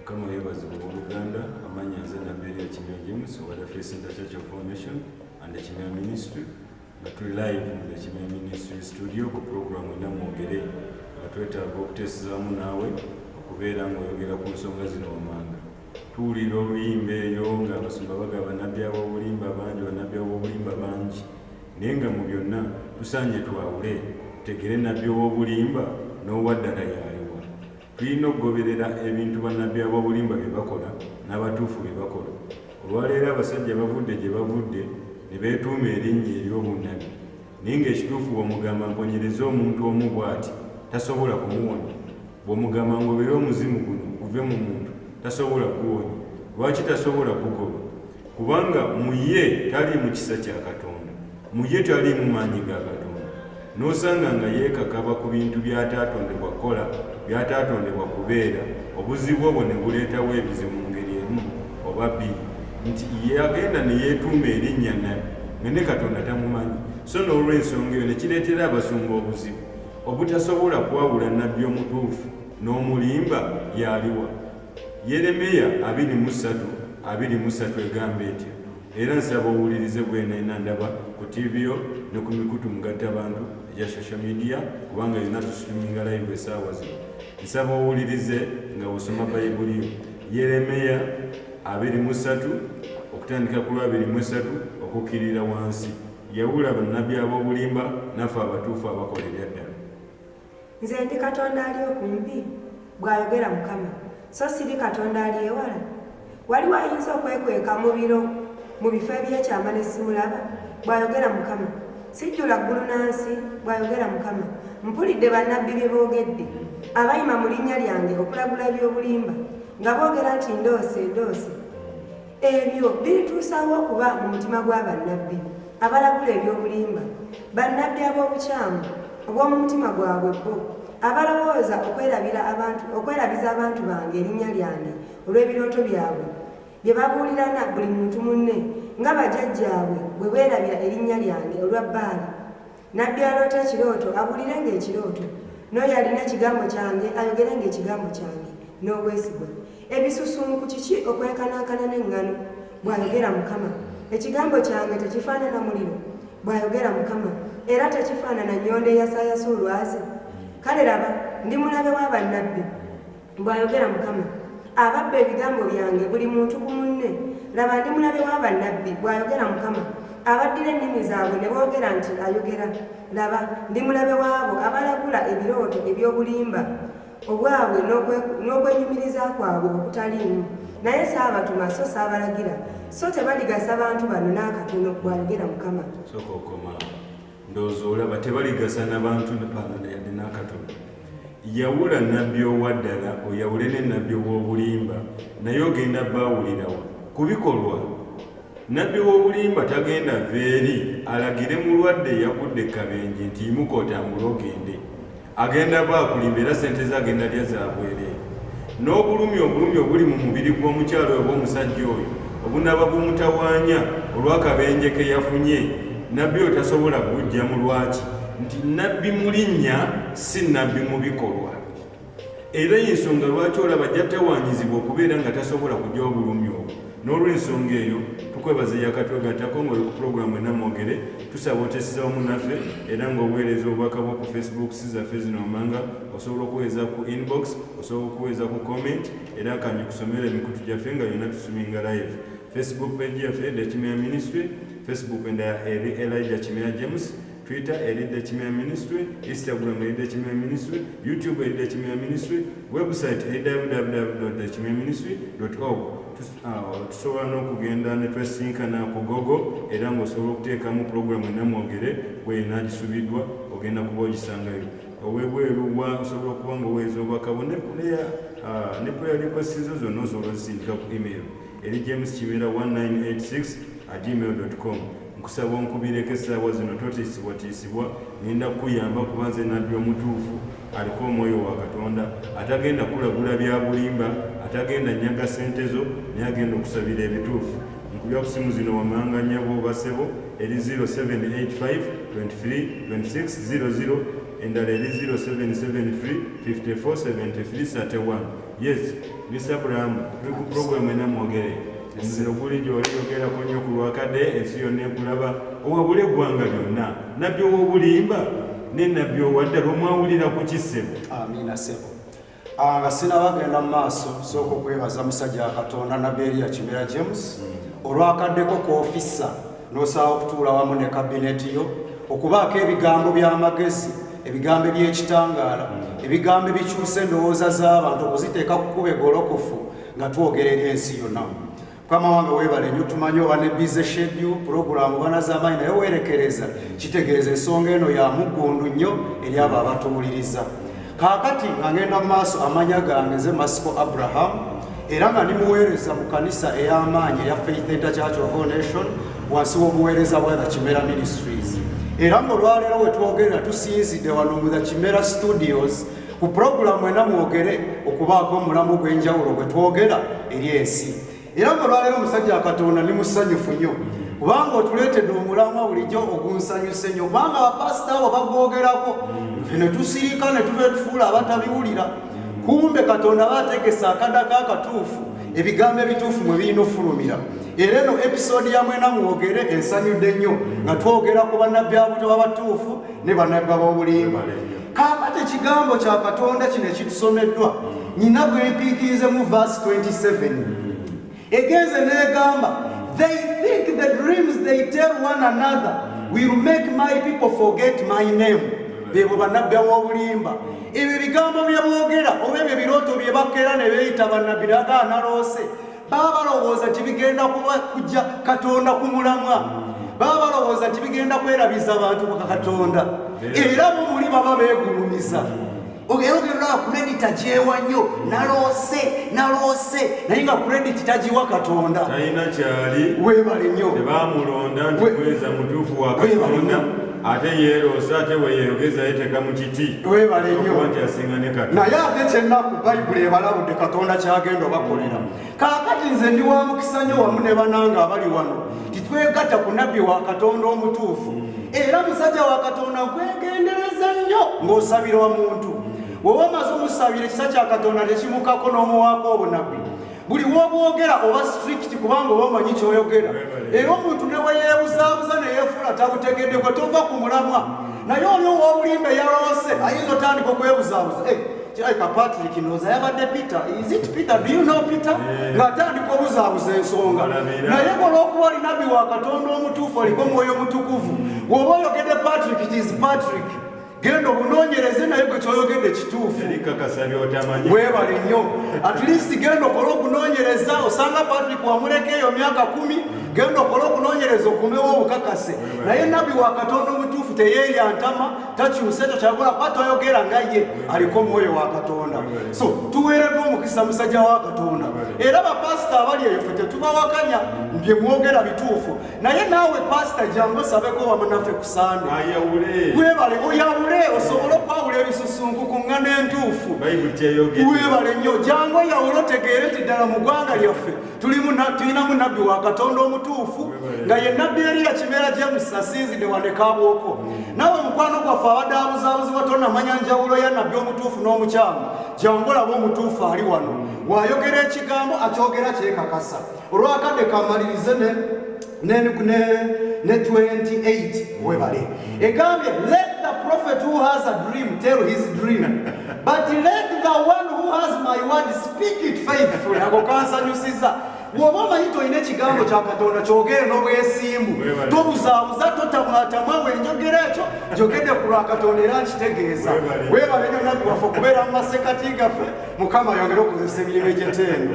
mukama yebazibwa oluganda amanya nze nabeeri ekimya james obada fesinta church of formation and ekimya ministry nga tuli live mu ekimya ministry studio ku programu ena mwogere nga twetaaga okuteesezaamu naawe okubeera ngaoyogera ku nsonga zino wamanga tuwulira oluyimba eyo nga abasumba baga banabbi abobulimba bangi banabbi abobulimba bangi naye nga mu byonna tusaanye twawule tegere nabbi owobulimba n'owaddala yaali Tulina okugoberera ebintu bannabbi ab'obulimba bye bakola n'abatuufu bye bakola. Olwaleero abasajja bavudde gye bavudde ne beetuuma erinnya ery'obunnabbi, naye ng'ekituufu bw'omugamba mponyereze omuntu omu bw'ati, tasobola kumuwonya. Bw'omugamba ngobere omuzimu guno guve mu muntu, tasobola kuguwonya. Lwaki tasobola kugugoba? kubanga mu ye taliimu kisa kya katonda mu ye taliimu maanyi ga katonda n'osanga nga yeekakaba ku bintu by'ataatondebwa kukola by'ataatondebwa kubeera obuzibu obwo ne buleetawo ebizibu mu ngeri emu oba bbiri nti yagenda ne yeetuuma erinnya nabi nga ne katonda tamumanyi so n'olw'ensonga eyo ne kireetera abasumba obuzibu obutasobola kwawula nabbi omutuufu n'omulimba yaaliwa Yeremiya abiri mu ssatu abiri mu ssatu egamba etya? Era nsaba owulirize bwenayina ndaba ku TV yo ne ku mikutu mugatta bantu egya social media kubanga yonna tusituminga live esaawa zino. Nsaba owulirize nga osoma Bayibuli yo. Yeremiya abiri mu ssatu okutandika ku lwabiri mu esatu okukkirira wansi. Yawula bannabbi ab'obulimba naffe abatuufu abakola ebyaddala. Nze ndi Katonda ali okumpi, bw'ayogera Mukama, so siri Katonda ali ewala? Waliwo ayinza okwekweka mu biro mu bifo eby'ekyama ne simulaba? bw'ayogera Mukama. Sijjula ggulu na nsi, bw'ayogera Mukama. Mpulidde bannabbi bye boogedde, abayima mu linnya lyange okulagula eby'obulimba, nga boogera nti ndoose, ndoose. Ebyo birituusaawo okuba mu mutima gwa bannabbi abalagula eby'obulimba, bannabbi ab'obukyamu obw'omu mutima gwabwe bo, abalowooza okwerabira abantu okwerabiza abantu bange erinnya lyange olw'ebirooto byabwe bye babuulirana buli muntu munne, nga bajajjaabwe bwe beerabira erinnya lyange olwa Baali. Nabbi aloota ekirooto abuulire ng'ekirooto, n'oyo alina ekigambo kyange ayogere ng'ekigambo kyange n'obwesigwa. Ebisusunku kiki okwenkanankana n'eŋŋano? bw'ayogera Mukama. Ekigambo kyange tekifaanana muliro? bw'ayogera Mukama, era tekifaanana nnyondo eyasaayasa olwazi? Kale laba, ndi mulabe wa bannabbi. bw'ayogera mukama ababba ebigambo byange buli muntu ku munne laba ndi mulabe wa bannabbi bw'ayogera mukama abaddira ennimi zaabwe ne boogera nti ayogera laba ndi mulabe waabo abalagula ebirooto eby'obulimba obwabwe n'okwenyumiriza kwabwe okutaliimu naye saabatuma so saabalagira so tebaligasa bantu bano n'akatono bw'ayogera mukama ndowooza olaba tebaligasa na bantu bano yadde n'akatono yawula nabbi owaddala oyawule ne nabbi w'obulimba naye ogenda baawulirawa ku bikolwa nabbi w'obulimba tagenda veeri alagire mulwadde eyagudde kabenje nti yimuka otambule ogende agenda bwakulimba era sente ze agenda lya zabwereere n'obulumi obulumi obuli mu mubiri gw'omukyalo oba omusajja oyo obunaba bumutawaanya olw'akabenje ke yafunye nabbi oyo tasobola kujja mu lwaki nti nabbi mu linnya si nabbi mu bikolwa era ensonga lwaki olaba jja tawaanyizibwa okubeera nga tasobola kujja obulumi obwo n'olw'ensonga eyo tukwebaza eyakatwegattako ng'oli ku pulogulaamu enamwogere tusaba oteeseza wamu naffe era ng'obuweereza obubaka bwo ku facebook si zaffe zino wammanga osobola okuweereza ku inbox osobola okuweereza ku comment era kanyi kusomera emikutu gyaffe nga yonna tusuminga live facebook page yaffe the kimera ministry facebook endala eri elija kimera james Twitter eridde Kimera Ministry, Instagram eridde Kimera Ministry, YouTube eridde Kimera Ministry, website eridde www.kimeraministry.org. Ah, tusobola n'okugenda ne twesinkana ku gogo era ng'osobola okuteekamu pulogulaamu enamwogere bweyina agisubiddwa ogenda kuba ogisangayo owebweru wa osobola okuba nga oweeza obwakabo ne puleya ah, ne puleya likwesizo zonna osobola ozisindika ku email eri james kimera 1986 gmail com nkusaba onkubireko essaawa zino totiisibwatiisibwa ngenda kukuyamba kuba nze nabbi omutuufu aliko omwoyo wa katonda atagenda kulagula bya bulimba atagenda nyaga sente zo naye agenda okusabira ebituufu nkubya ku simu zino wamanga nyabo basebo eri 0785232600 endala eri 0773547331 yes mr abraham tuli ku puroguramu enamwogeree omuliro guli gyoli yogerako nnyo ku lwakade ensi yonna ekulaba owabula eggwanga lyonna nabbi owobulimba ne nabbi owadda lwemwawulira ku kisebo amiina sebo ah, nga sinabagenda mu maaso sooka okwebaza musajja wa katonda nabbi eriya kimera james mm. olwakaddeko ku ofisa n'osaba okutuula wamu ne kabineti yo okubaako ebigambo by'amagezi ebigambo eby'ekitangaala mm. ebigambo ebikyusa endowooza z'abantu okuziteeka ku kuba egolokofu nga twogera eri ensi yonna mukama wange webale nyo tumanyi oba ne bize shedu pulogulaamu banazamaanyi naye weerekereza kitegeeza ensonga eno ya muggundu nnyo eri abo abatuwuliriza kaakati nga ngenda mu maaso amanya gange nze masiko abraham era nga ndi muweereza mu kanisa ey'amaanyi eya faith enter church of all nation wansi w'obuweereza bwa the kimera ministries era ng'olwaleero wetwogerera tusinzidde wano mu the kimera studios ku pulogulaamu ena mwogere okubaako omulamu ogw'enjawulo gwe twogera eri ensi era nga olwaleero omusajja wa katonda ndi musanyufu nnyo kubanga otuleetedde omulamwa bulijjo ogunsanyuse nnyo kubanga bapasita abo bagwogerako nfe ne tusirika ne tuva etufuula abatabiwulira kumbe katonda aba ategese akadako akatuufu ebigambo ebituufu mwe birina okufulumira era eno episoodi ya mwena mwogere ensanyudde nnyo nga twogera ku bannabbi abuto babatuufu ne bannabbi ab'obulimba kaakati ekigambo kya katonda kino ekitusomeddwa nyina gwe mpiikiriizemu verse 27 egenze n'egamba they think the dreams they tell one another will make my people forget my name bebo banabbi aw'obulimba ebyo ebigambo bye boogera oba ebyo ebirooto bye bakeera ne beeyita banabbi naga analoose baba balowooza nti bigenda kuba kujja katonda ku mulamwa baba balowooza nti bigenda kwerabiza bantu baka katonda era bo muli baba beegulumiza ogera ogerolaba kuredita kyewa nnyo naloose naloose naye nga kurediti tagiwa katonda talina kyali webale nnyo tebamulonda nti kweza mutuufu wa katonda ate yeeroosa ate weyeeyogeza yeteeka mu kiti webale nnyo nti asinga ne kati naye ate kyennaku bayibuli ebalabudde katonda kyagenda obakolera kaakati nze ndi wa mukisa nnyo wamu ne bananga abali wano titwegatta ku nabbi wa katonda omutuufu era musajja wa katonda nkwegendereza nnyo ng'osabirwa muntu woba omaze omusabira ekisa kya katonda tekimukako n'omuwaako obunabbi buli wobwogera oba strict kubanga oba omanyi kyoyogera era omuntu neweyebuzabuza neyefuula tabutegedeko tova ku mulamwa naye oli owobulimba eyalowose ayinza otandika okwebuzabuza eh, kirabika patrick noza yabadde peter is it peter do you know peter ngaatandika obuzabuza ensonga naye olwokuba oli nabbi wa katonda omutuufu oliko mwoyo mutukuvu woba oyogedde patrick it is patrick genda omunoonyereze naye gwe kyoyogedde kituufu webale nnyo at least genda okole okunoonyereza osanga patrick wamuleka eyo myaka kumi genda okole okunoonyereza okumbewo obukakase naye nabbi wa katonda omutuufu teyeeyantama takyusa ekyo kyagula kuba toyogera nga ye aliko omwoyo wa katonda so tuweereddwa omukisa musajja wa katonda era bapasita abali eyo fe tetubawakanya bye mwogera bituufu naye naawe pasita jangu osabeko wamu naffe ku sande webale oyawule osobole okwawula ebisusunku ku ŋŋana entuufu webale nnyo jangu oyawule otegeere nti ddala mu ggwanga lyaffe tulinamu nabbi wa katonda omutuufu nga ye nabbi eriya kibeera james asinzidde wanekaabwoko mm. naawe mukwano gwaffe abadde abuzaabuzibwa tonamanya njawulo ya nabbi omutuufu n'omukyamu jangu olaba omutuufu ali wano mm. wayogera ekigambo akyogera kyekakasa olwakadde kamalirize ne ne ne 28 webale egambye let the prophet who has a dream tell his dream but let the one who has my word speak it faithfully ako kansanyusiza woba omanyi tolina ekigambo kya katonda kyogere n'obwesimbu tobuzaabuza totamwatamwa wenjogera ekyo njogedde ku lwa katonda era nkitegeeza webale nyo nabbi waffe okubeera mu masekati gaffe mukama yongere okukozesa emirimu egyetendo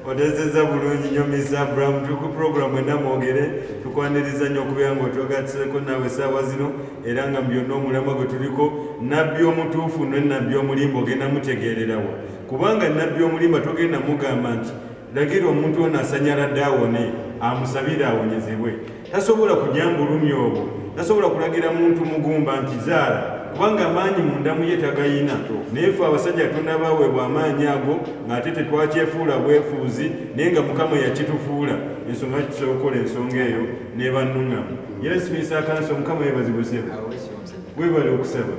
odezeza bulungi nyo misa abraham tuli ku puroguramu ena mwogere tukwaniriza nyo okubeera nga otwagatiseko naawe esaawa zino era nga mu byonna omulamwa gwe tuliko nabbi omutuufu ne nabbi omulimba ogenda mutegeererawo kubanga nabbi omulimba togenda mugamba nti lagira omuntu ono asanyala dde awone amusabire awonyezebwe tasobola kujja mu bulumi obwo tasobola kulagira muntu mugumba nti zaala kubanga amaanyi mundamu ye tagayina naye fe abasajja tunabaweebwa amaanyi ago ng'ate tetwakyefuula bwefuuzi naye nga mukama yakitufuula ensonga ki tusobola okukola ensonga eyo nebannuŋamu yesibisa akansi omukama yebazibusebe webale okusaba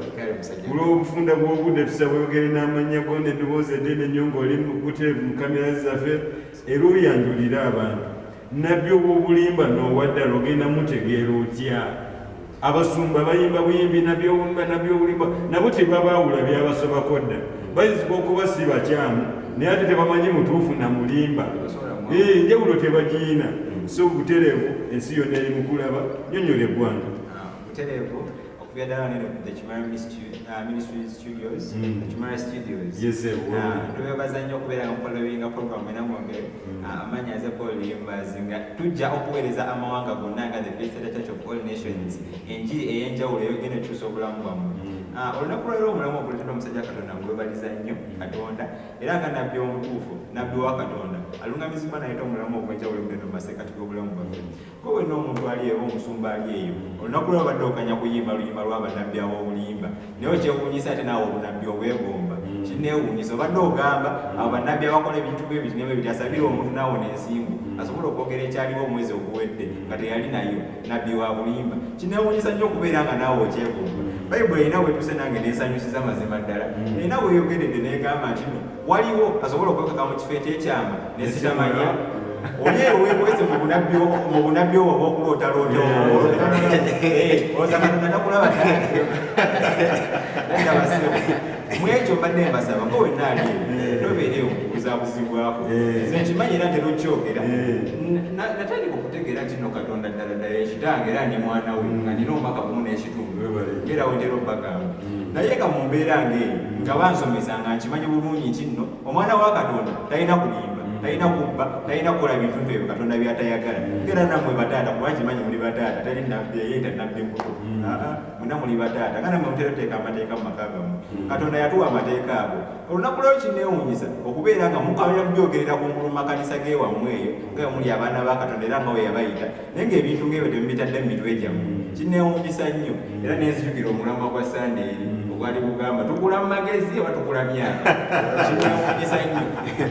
olw'obufunda bw'obudde tusaba oyogere n'amannya gona eddoboozi eddene nnyo ng'oli mubuteevu mu kamera zaffe era oyanjulire abantu Nabbi owobulimba nowaddala ogenda mutegeera otya? Abasumba bayimba buyimbi nabyowumba nabyobulimba nabo tebabaawula byabasobako dda. Bayinzika okuba si bakyamu naye ate tebamanyi mutuufu na mulimba. Ee njawulo tebagiyina. So butereevu ensi yonna eri mukulaba. Nyonyola eggwanga. Ah, butereevu. okubya ddala neno ku the kimara ministry uh, studios mm. the kimara studios twebaza uh, nnyo okubeera nga mufolowinga program ena mwonge mm. uh, amaanyi aze paul limbazi nga tujja okuweereza amawanga gonna nga the best church of all nations enjiri ey'enjawulo eyogenda ekyusa obulamu bwammwe mm. Ah, olunaku lwaliro omulamu oguletera omusajja katonda ngwebaliza nnyo katonda era nga nabbi omutuufu nabbi wa katonda alungamizibwa nayeta omulamu ogwenjawulo gugenda mu maseekati g'obulamu bwaffe Kowe n'omuntu ali eyo omusumba ali eyo olunaku lwa badde okanya kuyimba luyimba lwa banabbi ab'obulimba naye okyewuunyisa ate naawe obunabbi obwegomba mm. kineewuunyisa obadde ogamba mm. abo banabbi abakola ebintu bwe biti nebwe biti asabira omuntu naawo n'ensimbu mm. asobola okwogera ekyaliwo omwezi oguwedde nga teyali nayo nabbi wa bulimba kineewuunyisa nnyo okubeera nga naawe okyegomba bayibuli erina wetuuse nange neesanyusiza mazima ddala erina weyogeredde neegamba ntino waliwo asobola okwekaka mu kifo ekyekyama nesitamanya oli ewekwese mu bunabbi mu bunabbi obwo obwokuloota loota ozakatonda takulaba mwekyo mbadde mbasaba nga wenna ali nobeere okubuzabuzibwako nze nkimanyi era ntera okyogera natandika okutegeera nti no katonda ddala ddala ekitange era ndi mwana we nga nina omwaka gumu n'ekitundu era wetera obagamba naye nga mu mbeera ng'eyo nga bansomesa nga nkimanyi bulungi nti nno omwana wa katonda talina kulimba talina kubba talina kukola bintu nti ebyo katonda byatayagala era namwe bataata kuba nkimanyi muli bataata tali nabbi eyenda nabbi muto muna muli bataata nga namwe mutera oteeka amateeka mu maka gamu katonda yatuwa amateeka ago olunaku lweo kinneewuunyisa okubeera nga mukamya kubyogerera ku ngulu mu makanisa g'ewammwe eyo nga omuli abaana ba katonda era nga we yabayita naye ng'ebintu ng'ebyo temubitadde mu mitwe gyammwe kinneewuunyisa nnyo era nenzijukira omulamwa gwa sande eri ogwali gugamba tugula mu magezi oba tugula myaka kinneewuunyisa nnyo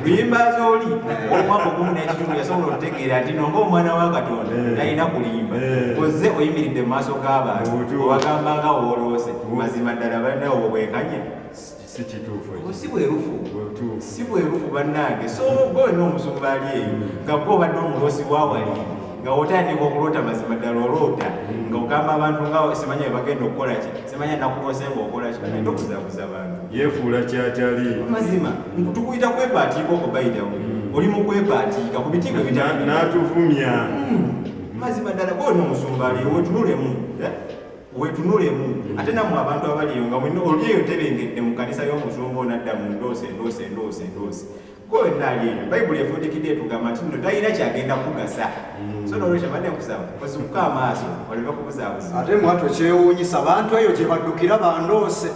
luyimba zooli omwaka ogumu n'ekitundu yasobola okutegeera nti nonga omwana wa katonda talina eh. kulimba eh. ozze oyimiridde mu maaso g'abantu obagamba nga wooloose mazima ddala balinawo bwekanye si kituufu ekyo. si bwerufu Butuufu. si bwerufu bannange so gwe olina omuzungu baali eyo nga gwe obadde omuloosi wawali nga otandika okuloota mazima ddala oloota nga ogamba abantu nga simanya bebagenda okukola ki simanya nakuloose nga okola ki agenda okuzabuza abantu yeefuula kyatali mazima tukuyita kwepaatiika oko bayidawo oli mu kwepaatiika ku bitiibwa Na- ebitali n'atuvumya mazima ddala gwe olina omusumba ali wetunulemu wetunulemu ate namwe abantu abaliyo nga mwena oli eyo tebengedde mu kanisa y'omuzungu onadda mu ndoosi endoosi endoosi endoosi gwewenna ali eyo bayibuli efundikidde etugamba nti no talina kyagenda kugasa mm. so nolwekyo badde nkusaba osikuka amaaso oleme kubuzaabuza ate mwatu kyewuunyisa bantu eyo gye baddukira bandoose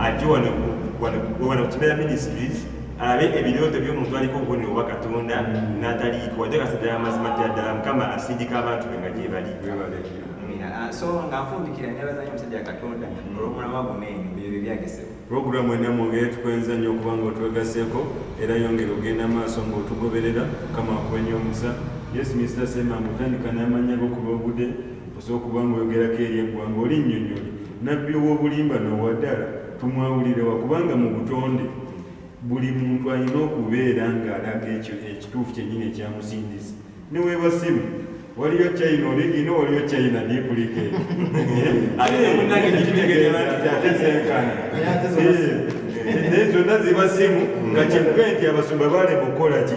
ajje wano ku kimera ministries alabe ebirooto by'omuntu aliko obubonero obwa katonda n'ataliiko wadde kasadala amazima ddala ddala mukama asindika abantu be nga gyebali ah, so nga nfundikira nebazanyo omusajja katonda olwomulamwa guno eno ebyo byebyagese pulogulaamu ena mwongere tukwenza nnyo okuba nga otwegaseko era yongere ogenda maaso nga otugoberera kama akuwenyo omusa yesu misita sema mutandika n'amanya gokuba obude Ez'okuba ng'oyogerako eri eggwanga oli nnyonnyoli, Nabbi ow'obulimba n'owadala, tomwawulirewa kubanga mu butonde buli muntu alina okubeera ng'alaga ekyo ekituufu kyennyini ekyamusindise. Ne weeba ssimu, waliyo China oligi ino waliyo China diipulike. Naye zonna ziba ssimu nga kivuge nti abasumba baalema okukola ki?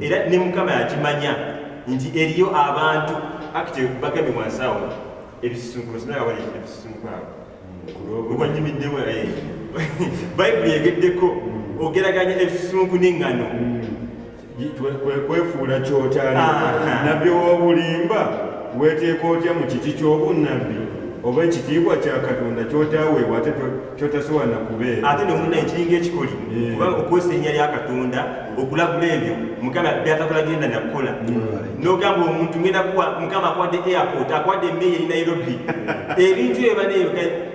era ne mukama yakimanya nti eriyo abantu akite bagambye wansawo ebisisunkulo sinaba wali ebisisunkulo wanyumiddewo naye bayibuli egeddeko ogeraganya ebisisunku n'eŋŋano kwefuula kyotali nabbi owobulimba weteeka otya mu kiti ky'obunnabbi oba ekitiibwa kya katonda kyotaweebwa ate kyotasobola nakubeera ate nomuna ekiringa ekikoli eh. kubanga okozesa erinnya lya katonda okulagula ebyo mukama byatakulagenda nakukola nogamba omuntu ngenda kuwa mukama akwadde airport akwadde emeyi eri nairobi ebintu ebyo baneyo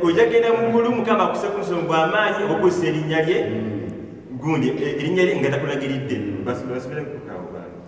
oja genda mugulu mukama akuse ku nsonga amaanyi okozesa erinnya lye mm. gundi erinnya lye nga takulagiridde basubira kukawo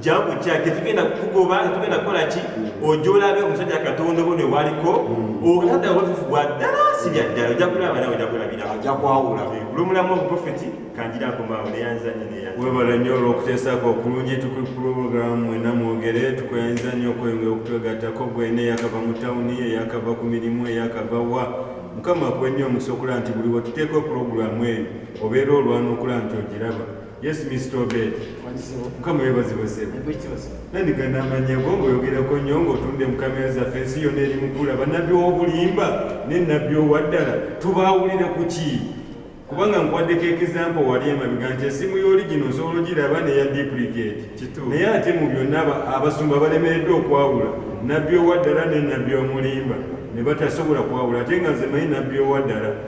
jangu kya tetugenda kukugoba tetugenda kukola ki ojja olabe omusajja katonda obo newaliko okulada watufu bwa ddala si bya ddala ojja kulaba nawe ojja kulabira ajja kwawula kulomulamu obuprofeti kanjira nkomaawo neyanza nyo neya webala nnyo olwokuteesako okulungi tukuli pulogulaamu mwena mwogere tukwenza nnyo okweyongera okutwegattako gwena eyakava mu tawuni eyakava ku mirimu eyakava wa mukama akuwe nnyo omusokola nti buli wetuteeka pulogulaamu eyo obeera olwanukula nti ogiraba Yes, Mr. Obed. Mukama webazibwe sebo. Nandiga namanya go ngoyogerako nnyo ng'otunda mu kamera zaffe ensi yonna eri mukula bannabbi w'obulimba ne nnabbi owaddala tubaawulira ku ki kubanga nkwaddeko ekizampo wali emabega nti esimu y'oligino osobola ogiraba neya duplicate naye ate mu byonna abasumba balemereddwa okwawula nnabbi owaddala ne nnabbi omulimba ne batasobola kwawula ate nga nze manyi nnabbi owaddala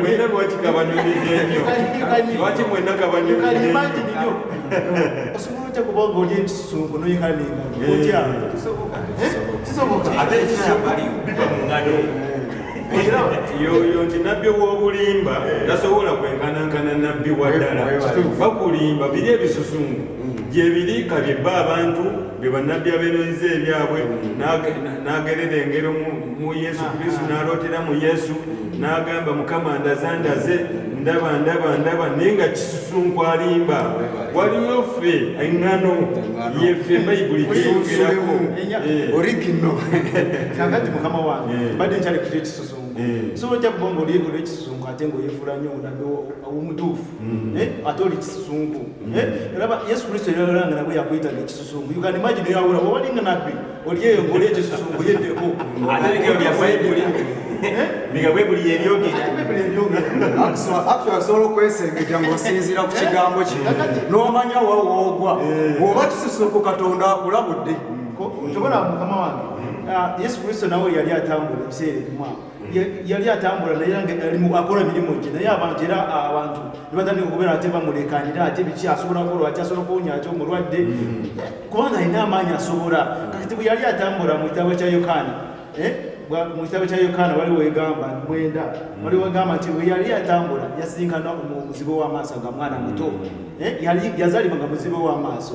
mwena lwaki kabanyumidde nnyo lwaki mwena kabanyumidde nnyo osobola otya kuba nga oli ekisungu noyekala nengalo otya kisoboka ate ekisoboka biva mu ngalo yoyo nti nabbi wobulimba tasobola kwenkanankana nabbi waddala bakulimba biri ebisusungu gyebiri kabye bba abantu be bannabbi abeeroyiza ebyabwe n'agerera engero mu yesu kristu n'alootera mu yesu n'agamba mukama ndaza ndaze ndaba ndaba ndaba naye nga kisusunku alimba waliwo ffe eŋŋano yeffe bayibuli kiyongerako eh. origino kakati mukama wange eh. mbadde nkyali kuta ekisusunku eh. so ojja kubanga oli olwekisusunku ate ngaoyefuula nyo omutuufu Mm. Eh, ate oli kisusunku mm. eh, raba yesu kristo eralanga nabwe yakwita nekisusunku you can imagine yawula wawalinga nabbi oli eyo ngoli ekisusunku yedeko asobola okwesengejja ngaosinziira ku kigambo kino eh. nomanya wawoogwa oba kisusunku katonda akulabudde kyobola mukama wange ah, yesu kristo nawe yali atambula ebiseera ebimu awo yali atambula naye akola emirimu gye naye abantu era abantu nebatandika okubeera ate bamulekanira ate biki asobola kola ati asobola kuwonya ati omulwadde mm. kubanga alina amaanyi asobola kati bwe yali atambula mu kitabo kya yokaana eh, mu kitabo kya yokaana wali wegamba mwenda mm. wali wegamba nti bwe yali atambula yasinkana omuzibe w'amaaso nga mwana muto mm. eh, yazalibwa nga muzibe w'amaaso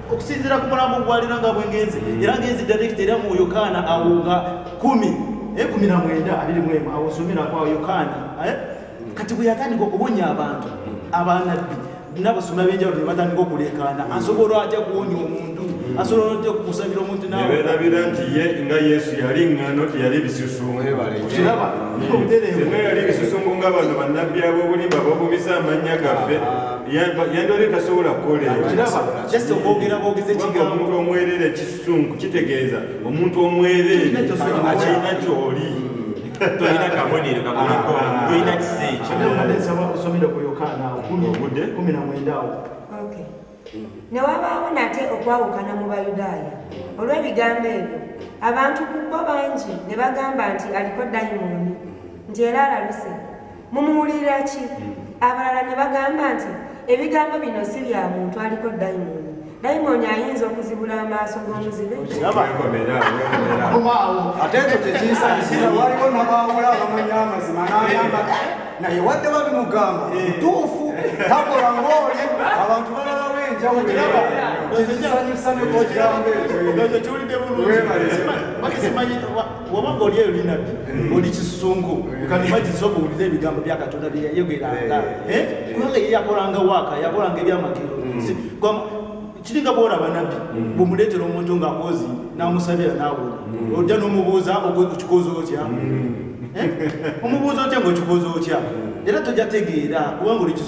okusinzira ku mulambo ogwalina nga bwengenzi era ngenzi direct era mu yokaana awo nga kumi eh, kumi na mwenda abiri mwemu awo nsomera kwa yokaana eh? kati bwe yatandika okuwonya abantu abanabbi nabasoma benjawulo ne batandika okuleekaana asobola atya kuwonya omuntu asobola otya okukusabira omuntu naweerabira nti ye nga yesu yali ŋŋano teyali bisusunguiraba obutereevu yali bisusungu nga bano bannabbi ab'obulimba bobumiza amannya gaffe ah. yandwali tasobola kukoleomuntu omwerere kisungu kitegeeza omuntu omwerere akirina kyoli tolina kabonero kabuliko tolina kisa ekyobudeawo ne wabaawo nate okwawukana mu bayudaaya olw'ebigambo ebyo abantu ku bo bangi ne bagamba nti aliko dayimooni nti era alaluse mumuwulirira ki hmm. abalala ne bagamba nti ebigambo bino si bya muntu aliko dayimooni dayimooni ayinza okuzibula amaaso g'omuzibe ate ekyo kyekinsanyusiza waliwo nabaawula abamanya amazima n'agamba naye wadde babimugamba eh. mutuufu takola ng'oli abantu balala w'enjawukiraba kyekinsanyusa nekokirambo ekyo waba ng'oli eyo linabbi mm. oli kisusunku mm. kanimagiza okuwulira ebigambo bya katonda bye yayogeranga eh. Eh? kubanga ye yakolanga waaka yakolanga ebyamagero kiringa bwora banabi mm. bumuletera omuntu nga akozi namusabira nawona mm. ojja nomubuuza okikoza otya mm. eh? omubuuza otya nga okikoza otya era tojja tegeera kubanga oli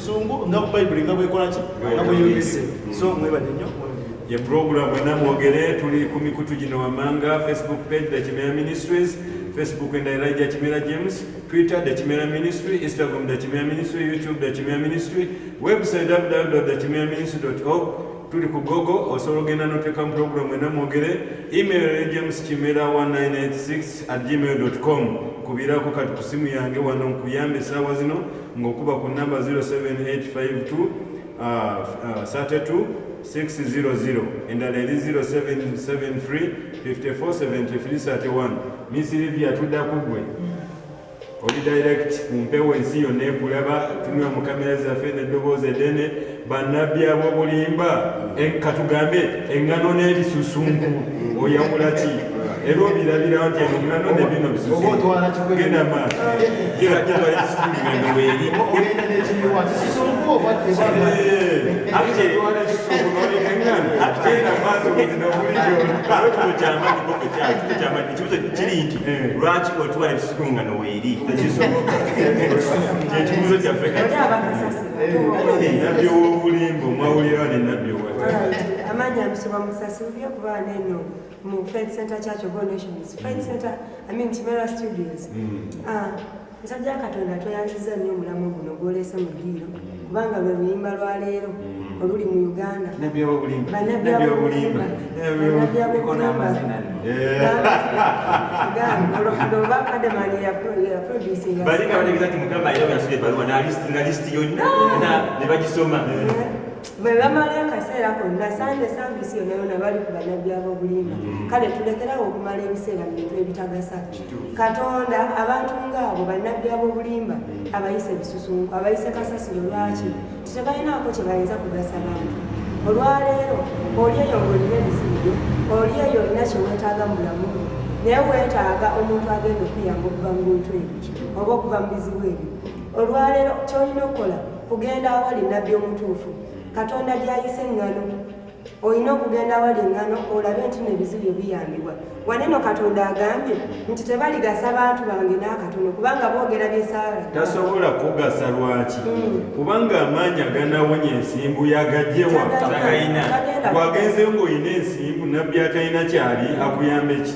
sungu nga bayibuli nga bwekolaki nga bweyolese so mwebale nyo ye puroguramu ena mwogere tuli ku mikutu gino wammanga facebook page the kimera ministries facebook and elijah kimera james twitter the kimera ministry instagram the kimera ministry youtube the kimera ministry website www the kimera ministry org tuli ku gogo osobola ogenda noteeka mu puroguramu ena mwogere email ya james kimera 1986 at gmail com kubirako kati ku simu yange wano nkuyambe esaawa zino ng'okuba ku namba 0785232600 endala eri 0773547331 misirivia tudda ku gwe oli direct ku mpewo ensi yonna ekulaba tunula mu kamera zaffe n'eddoboozi edene banabbi abobulimba katugambe eŋŋano n'ebisusunku oyawula ki era obirabirawo nti eŋŋano ne bino bisusunkugenda maaso kiri nti lwaki otwala ebisusunku nga noweeri ekibuzo kyaffe nabbi ow'obulimba omwawulira ne nabbi owa amaanyi amusoma musasibye okuba neno mu faith center church of all nations faith center i mean kimera studios hmm. ah, musajja katonda tweyanziza nnyo omulamu guno gwolese mu ddiiro kubanga lwe luyimba lwa leero hmm. oluli mu uganda banabbi abobulimba bwebamala akaseera konna sande saavisi yona yona bali ku banabbi abobulimba mm. kale tulekerawo okumala ebiseera mubintu ebitagasa katonda abantu ngaabo banabbi abobulimba mm. abayise bisusunku abayise kasasiro lwaki tebalinaako kye bayinza kugasa bantu olwaleero oli eyo ng'olina ebizibu byo oli eyo olina kye weetaaga mu bulamu bwo naye weetaaga omuntu agenda okuyamba okuva mu bintu ebyo oba okuva mu bizibu ebyo olwaleero kyolina okukola kugenda awali nabbi omutuufu katonda gyayise eŋŋano olina okugenda awali eŋŋano olabe nti no ebizibu byo biyambibwa waneno katonda agambye nti tebaligasa bantu bange n'akatono kubanga boogera byesaala tasobola kugasa lwaki hmm. kubanga amaanyi aganawonya ensimbu yagajewa wagenzeyo ng'olina ensimbu nabbi atalina kyali akuyambeki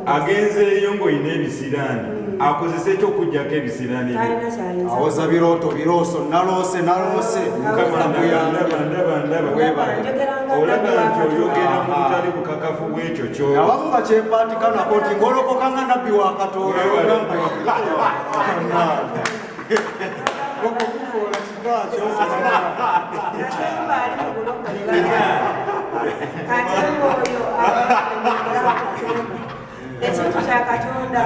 agenzeeyo ng'olina ebisiraani hmm. akozesa ekyokujjako ebisiraani awoza birooto birooso naloose naloose olaba nti oyogera mu butali bukakafu bwekyo kyoabamu bakyepatika nako nti ngolokoka nga nabbi wa katonda ekintu kya katonda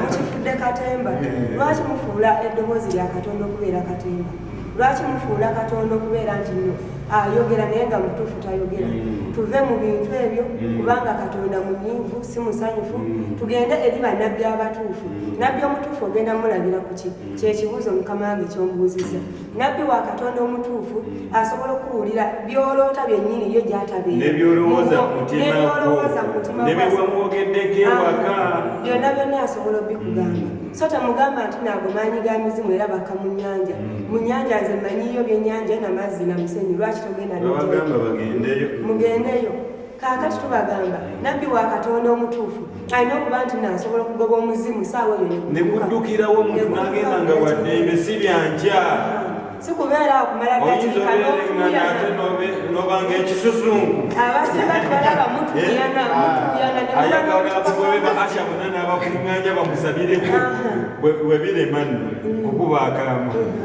mukifudde katemba lwaki mufuula eddoboozi lya katonda okubeera katemba lwaki mufuula katonda okubeera nti no ayogera naye nga mutuufu tayogera mm. tuve mu bintu ebyo mm. kubanga katonda munyiivu si musanyufu mm. tugende eri bannabbi abatuufu nabbi omutuufu ogenda mulabira ku ki kyekibuuzo mukama wange kyombuuzizza nabbi wa katonda omutuufu asobola okuwulira byoloota byennyini yo gyatabenebyolowooza mutimanebyewamwogeddeko ewaka byonna byonna asobola obikugamba so temugamba nti naago maanyi ga mizimu era baka mu nyanja mm. mu nyanja nze manyiyo byenyanja namazzi namusenyi lwaki togenda mugendeyo kaakati tubagamba nabbi wa katonda omutuufu alina okuba nti nasobola okugoba omuzimu saawa yoneguddukirawo omuntu nagenda nga waddembe si byankya sikubeera okumala nobanga ekisusunku abasinga tubalaba mutuyana eh? mutuyana ah. ayagala abagobe ba asha bona n'abakuŋŋanya bamusabireko bwe birema nno mm. okuba akalama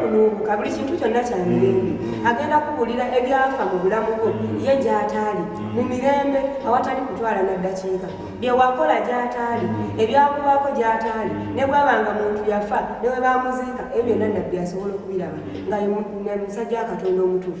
kunuubuka buli kintu kyonna kya mirembe mm. agenda kubuulira ebyafa mu bulamu bwo mm. ye gyataali mm. mu mirembe awatali kutwala na ddakiika byewakola gyataali ebyakubaako gyataali ne bwabanga muntu yafa newe bamuziika ebyo byonna nabbi asobola okubiraba nga musajja wa katonda omutuufu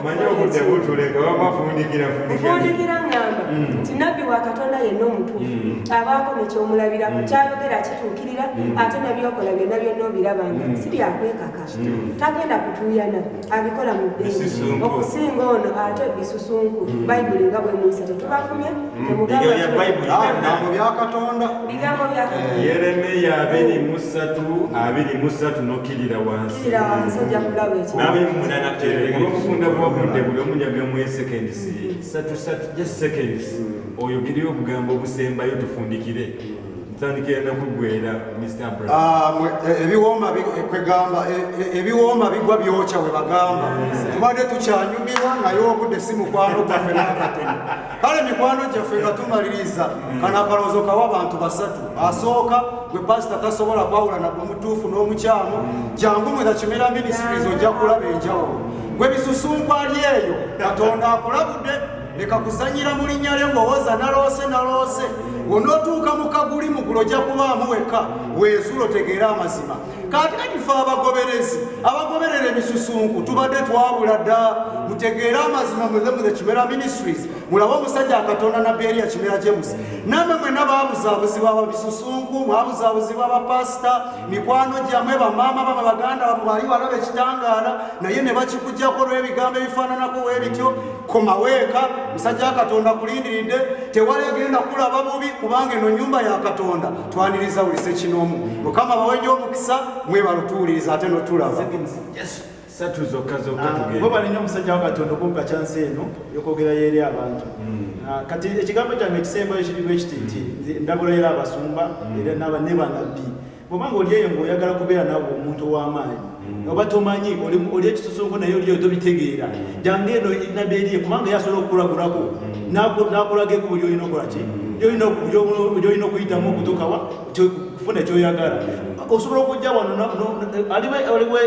omanyi obudde butuleka wama fundikira fundikira ngamba mm. nti nabbi wa katonda yenna omutuufu mm. abaako nekyomulabirako mm. kyayogera kituukirira ate nebyokola byonna byonna obirabanga si byakwekaka tagenda kutuuyana abikola mu ddeeyi okusinga ono ate bisusunku bayibuli nga bwemuyisa tetubafumye temugambabyakatondabigambo bya eh, yeremiya abiri musatu abiri musatu nokirira wansi nawe muna nateeolwokufunda bwobudde buli omu njagamuyo seconds satu satu just seconds oyogereyo obugambo obusembayo tufundikire ntandikira nakuggwera mr bra ah, e, ebiwooma e, kwegamba e, ebiwooma bigwa byokya we bagamba tubadde tukyanyumirwa naye obudde si mukwano gaffe nakatono kale mikwano gyaffe nga tumaliriza kano akalowoozo kawa abantu basatu asooka gwe pasita tasobola kwawula naku mutuufu n'omukyamu jangu mwena kimera minisitirizi ojja kulaba enjawulo gwe bisusunkwali eyo katonda akulabudde leka kuzanyira mu linnya lye ng'owoza naloose naloose onootuuka mu kaguli mugulu ojja kubaamu wekka weezulo tegeera amazima kati kati fe abagoberezi abagoberera emisusunku tubadde twabula dda mutegeere amazima muthemuthe kimera ministries mulabe omusajja akatonda nabbi eriya kimera james namwe mwena babuzabuzibwa ababisusunku mwabuzabuzibwa abapasita mikwano gyamwe bamaama bamwe baganda bamwe bali balaba ekitangaala naye ne bakikujjako olw'ebigambo ebifaananako webityo komaweeka musajja akatonda kulindiridde tewali egenda kulaba bubi kubanga eno nyumba ya katonda twaniriza buli sekinoomu mukama baweja omukisa mwebala otuwuliriza ate notulaba satu zokka zokka ah, bo balinyo omusajja wa katonda okumpa kyansi eno yokwogerayo eri abantu hmm. ah, kati ekigambo kyange ekisembayo kirimu ekiti nti hmm. ndabula era abasumba hmm. era naba ne banabbi bwobanga oli eyo ngaoyagala kubeera nabo omuntu ow'amaanyi oba tomanyi oli ekisusunku naye oliyo tobitegeera jange eno nabbi eriye kubanga yasobola okukulagulako nakulaga ekubo lyolina okolaki lyolina okuyitamu okutukawa kufuna ekyoyagala osobola okujja wano aliwo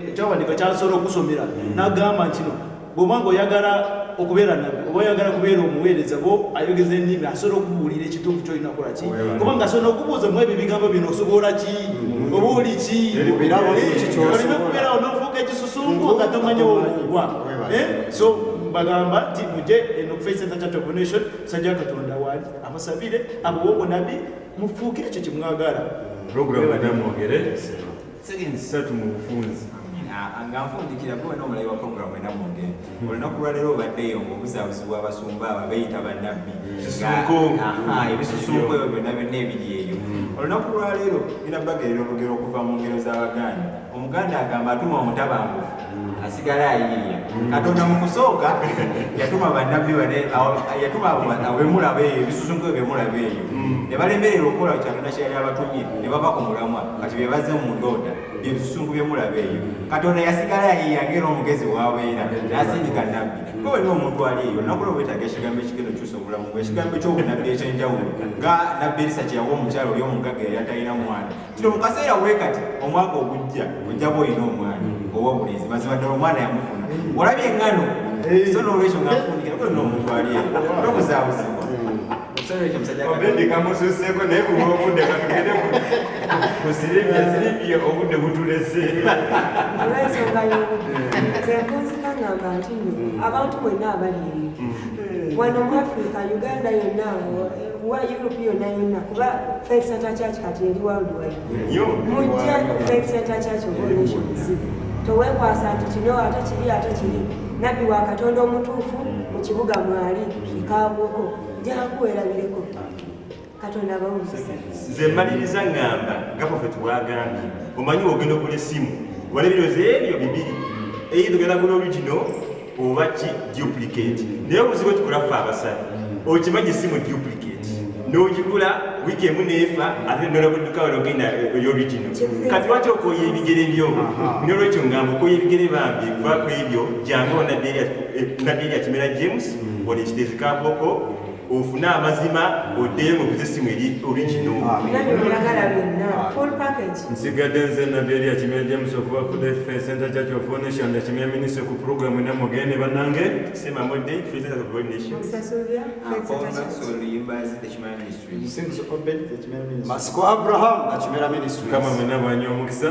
ekyawandika kyasobola okusomera nagamba ntino bwoba nga oyagala okubeera nabbi oba oyagala kubeera omuweereza bo ayogeza ennimi asobola okubuulira ekituufu kyolina kola ki kubanga asobola okubuuza mu ebyo ebigambo bino osobola ki mm-hmm. oba oli ki olina okubeerawo n'ofuuka ekisusunku nga tomanyi womugwa eh? so bagamba nti muje eno kuface center church of nation musajja wa katonda wali abasabire abawe obunabi mufuuke ekyo kyemwagala mm-hmm. program namwogere Seconds ssatu mu bufunzi ah, nga nfundikira gwe wena omulayi wa programu ena munge hmm. olunaku lwaleero obaddeyo ngaobuzaabuzi bw'abasumba abo beyita bannabbi hmm. ebisusunku ebyo byonna byonna ebiri eyo hmm. olunaku lwaleero bina bagerera olugero okuva mu ngero z'abaganda omuganda agamba atuma omutabangufu asigala ayiiya katonda mu kusooka yatuma bannabbi bane yatuma abemulaba eyo ebisusunku ebyemulaba eyo ne balemerera okukola kyatonda kyeyali abatumye ne bava ku mulamwa kati be bazze mu ndooda byebisusunku byemulaba eyo katonda yasigala ayiiya ngaera omugezi wabeera nasindika nabbi kwe wenna omuntu ali eyo nakula obwetaaga ekigambo ekigenda okyusa obulamu bwe ekigambo ky'obunabbi ekyenjawulo nga nabbi erisa kyeyawa omukyalo oli omugagga yali atalina mwana kino mu kaseera bwe kati omwaka ogujja ojjaba olina omwana mm. owobulenzi mazima ddala omwana yamufuna mm. olabye engano so nolwekyo ngafundikira kuli nomutwali tokuzabuzibwa kamususeko naye kuba obudde katugende ku silivia silivia obudde butulese olwensonga yobudde zenkunzika ngamba nti abantu bwenna abali wano mu afrika uganda yonna wa Europe yonna yonna kuba Faith Center Church kati eri worldwide. Mujje Faith Center Church of All Nations. Towekwasa nti kino ate kiri ate kiri. Nabbi wa Katonda omutuufu mu kibuga mwali ekaabwoko jangu werabireko Katonda abawuliriza. Nze mmaliriza ng'amba nga Prophet bw'agambye omanyi ogenda okula essimu wala ebirowoozo ebyo bibiri eyi tugenda gula olugino oba ki duplicate naye obuzibu tukula ffe abasala okimanyi si mu duplicate n'ogigula wiiki emu neefa ate nolabudduka ologenda eyorigino kati lwaki okoya ebigere byo nolwekyo ngamba okoya ebigere bambi kuba ku ebyo jangu nabeerya kimera james mm. olekitezikakoko ofune amazima oddeyo mu buzisimu eri origino nsigadde nze nabbi eri akimya james okuba kudefe senta kya kyofunisha nda kimya minisi ku puroguramu ena mugende banange sima mudde masiko abraham akimera minisitri kama mwena bwanyi omukisa